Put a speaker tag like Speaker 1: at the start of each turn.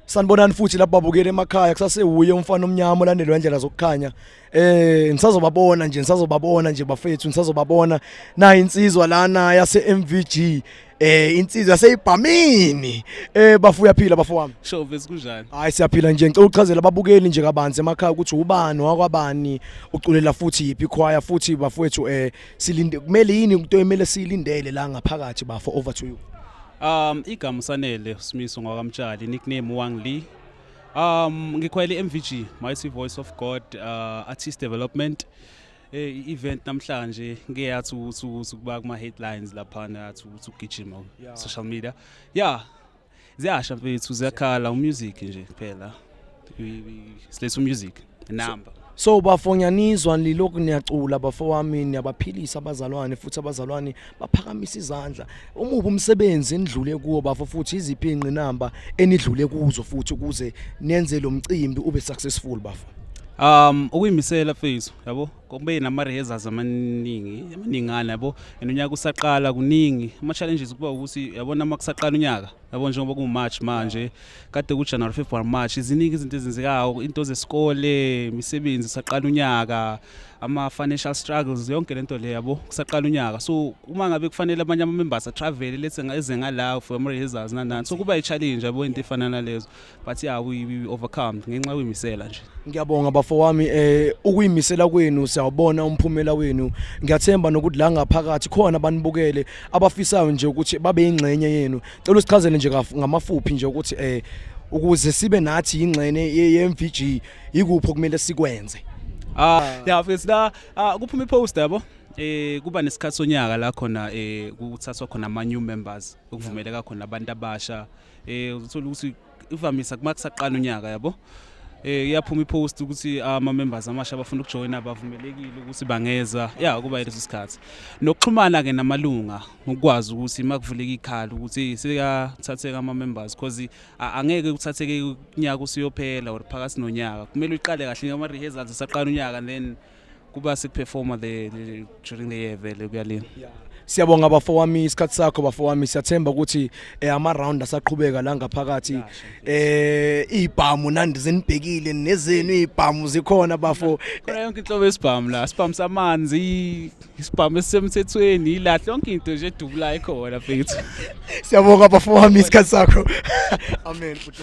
Speaker 1: sanibonani futhi lapho babukele emakhaya kusasewuye umfana omnyama olandelwa indlela zokukhanya eh ngisazobabona nje ngisazobabona nje bafethu ngisazobabona na insizwa lana yase MVG eh insizwa seyibhamini eh bafu uyaphila bafo wami sho vesi kunjani
Speaker 2: hayi siyaphila nje ngicela
Speaker 1: uchazela ababukeli nje kabanzi emakhaya ukuthi ubani wakwabani uculela futhi yipi choir futhi bafowethu eh silinde kumele yini into emele silindele la ngaphakathi bafo over to you Um igama
Speaker 2: usanele Smiso ngwakamtshali nickname Wang Li. Um ngikhwele MVG Mighty Voice of God uh, Artist Development. Eh event namhlanje ngeke yathi ukuthi ukuthi kuba kuma headlines lapha nathi ukuthi ugijima social media. Yeah. Ziyasha mfethu ziyakhala umusic nje kuphela. Silethu music. number so bafonyanizwa
Speaker 1: nilokhu niyacula bafo wami niyabaphilisa abazalwane futhi abazalwane baphakamisa izandla umubi umsebenzi enidlule kuwo bafo futhi iziphi ingqinamba enidlule kuzo futhi ukuze nenze lo mcimbi ube successful bafo um
Speaker 2: ukuyimisela mfethu yabo kube nama rehearsals amaningi amaningana yabo and unyaka usaqala kuningi ama challenges kuba ukuthi yabona uma kusaqala unyaka yabo njengoba kuwumarch manje kade kujanuary february march ziningi izinto ezenzekayo into zesikole imisebenzi saqala unyaka ama-financial struggles yonke lento le yabo kusaqala unyaka so uma ngabe kufanele abanye ama-members atravel lethe eze ngala for ama-rehearsals nanani so kuba i-challenge yabo into efana nalezo but yeah we, we overcome ngenxa yokuyimisela nje ngiyabonga bafo wami
Speaker 1: eh ukuyimisela kwenu siyawubona umphumela wenu ngiyathemba nokuthi la ngaphakathi khona banibukele abafisayo nje ukuthi babe ingxenye yenu cela usichazele nje ngamafuphi nje ukuthi eh ukuze sibe nathi ingxene ye-MVG yikuphi okumele sikwenze ah yeah
Speaker 2: fethu la ah, kuphuma ipost yabo eh kuba nesikhathi sonyaka la khona eh kuthathwa khona ama new members okuvumeleka khona abantu abasha eh uzothola ukuthi ivamisa kuma kusaqala unyaka yabo eh iyaphuma ipost ukuthi ama members amasha abafuna ukujoina bavumelekile ukuthi bangeza ya kuba leso sikhathi nokuxhumana ke namalunga ukwazi ukuthi makuvuleka ikhala ukuthi sekathatheka ama members because a- angeke kuthatheke unyaka usiyophela or phakathi nonyaka kumele uqale kahle ngama rehearsals esaqala unyaka then kuba siperforma the during the year vele kuyalini yeah. siyabonga bafo
Speaker 1: wami isikhathi sakho bafo wami siyathemba ukuthi eh, ama round asaqhubeka la ngaphakathi eh ibhamu nandi zinibhekile nezenu ibhamu zikhona bafo khona yonke inhlobo
Speaker 2: esibhamu la sibhamu samanzi isibhamu esisemthethweni ilahle yonke into nje edubula ikhona mfethu
Speaker 1: siyabonga bafo wami
Speaker 2: isikhathi sakho amen
Speaker 1: futhi